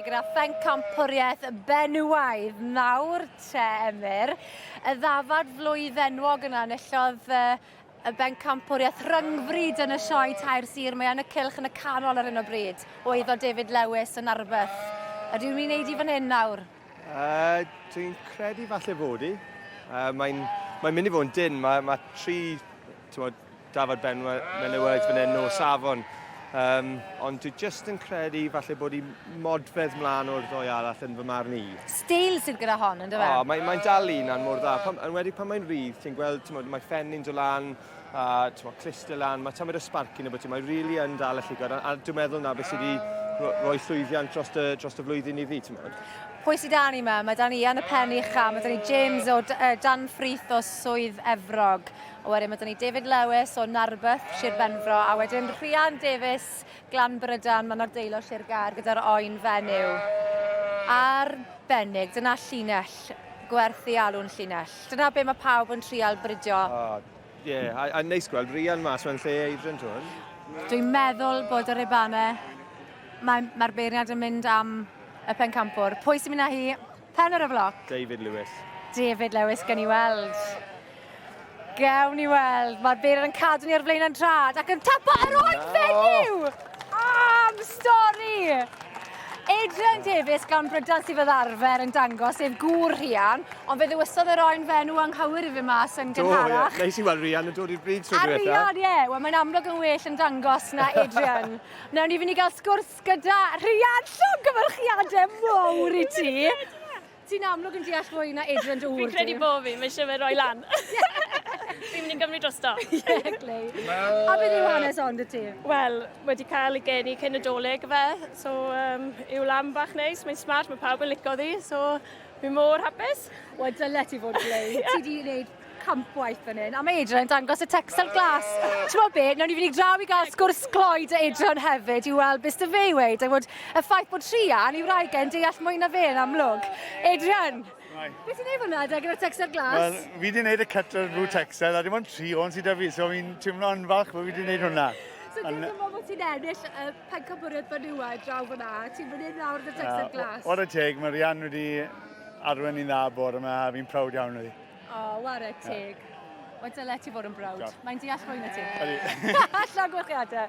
gyda phencampwriaeth benywaidd nawr te Emyr. Y ddafad flwydd enwog yna enillodd y bencampwriaeth rhyngfryd yn y sioe tair sir. Mae yn y cilch yn y canol ar hyn o bryd. O iddo David Lewis yn arbeth. Ydy ni'n neud i fan hyn nawr? Uh, Dwi'n credu falle fod i. Uh, Mae'n mae mynd i fod yn dyn. Mae, mae tri tywod, Dafod Benwa menywod fan hyn nos afon. Um, ond dwi just yn credu falle bod i modfedd mlaen o'r ddoi arall yn fy marn i. Stael sydd gyda hon, yn dyfa? Oh, mae'n mae dal un a'n mor dda. Pam, yn wedi pan mae'n rhydd, ti'n gweld, ti'n mae ffenni'n dod lan, a ti'n modd clistel lan, mae tamad o sparc yn y bwyty, mae'n rili really yn dal y llygod, a, a dwi'n meddwl na fe sydd wedi rhoi llwyddiant dros y, dros y flwyddyn i fi, ti'n modd. Pwy sydd dan i yma? Mae dan i Ian y Pen Ucha, mae dan i James o uh, Dan Ffrith o Swydd Efrog, A wedyn mae dyn ni David Lewis o Narberth, Sir Benfro, a wedyn Rhian Davies, Glan Brydan, mae'n ardeulio Sir Gaer gyda'r oen fenyw. Arbennig, dyna llinell, gwerth i alw'n llinell. Dyna be mae pawb yn trial bridio. Oh, yeah. a, a neis gweld Rhian mas mewn lle eidra'n tŵn. Dwi'n meddwl bod yr Ebane, mae'r mae beirniad yn mynd am y pencampwr. Pwy sy'n mynd â hi? Pen ar y floc. David Lewis. David Lewis, gen i weld. Gawn ni weld. Mae'r beirdd yn cadw ni ar flaen yn trad ac yn tapa ar ôl fenyw! Am stori! Adrian Davies gan Brydan sydd fel arfer yn dangos sef gŵr Rhian, ond fe ddywysodd yr oen fenw anghywir i fi mas yn gynharach. Do, ie. Neis i weld Rhian yn dod i'r bryd trwy diwetha. A Rhian, ie. Wel, mae'n amlwg yn well yn dangos na Adrian. Nawr ni fynd i gael sgwrs Gyda Rhian, llongyfarchiade mowr i ti! Ti'n amlwg yn deall fwy na Adrian dy ŵr Fi'n credu bo fi, mae eisiau fe roi lan. Fi'n mynd i gymryd drosto. Ie, glei. A beth yw hanes ond y ti? Wel, wedi cael ei geni cyn y doleg fe, so um, yw lam bach neis, mae'n smart, mae pawb yn licio ddi, so fi mor hapus. Wel, dyle ti fod glei. Ti di wneud campwaith fan hyn. A mae Adrian yn dangos y texel glas. Ti'n bod be, nawn ni fynd i draw i gael sgwrs cloi dy Adrian hefyd i weld beth sydd fe i weid. A bod y ffaith bod Trian i wraig e'n deall mwy na fe yn amlwg. Adrian, Beth ti'n ei fanna da gyda'r texel glas? Wel, fi wedi gwneud y cut o'r blue texel a dim ond tri o'n sydd da fi, so fi'n teimlo yn falch bod fi wedi gwneud hwnna. So ti'n gwybod bod ti'n ennill y pencampwriaeth fanua draw fyna, ti'n mynd i'n nawr yn y texel glas? O'r y teg, mae Rian wedi arwen i'n dda bore yma a fi'n prawd iawn o ddi. O, oh, ware teg. Yeah. Wel, dyle ti fod yn brawd. Mae'n deall fwy na ti. Allan gwechiadau.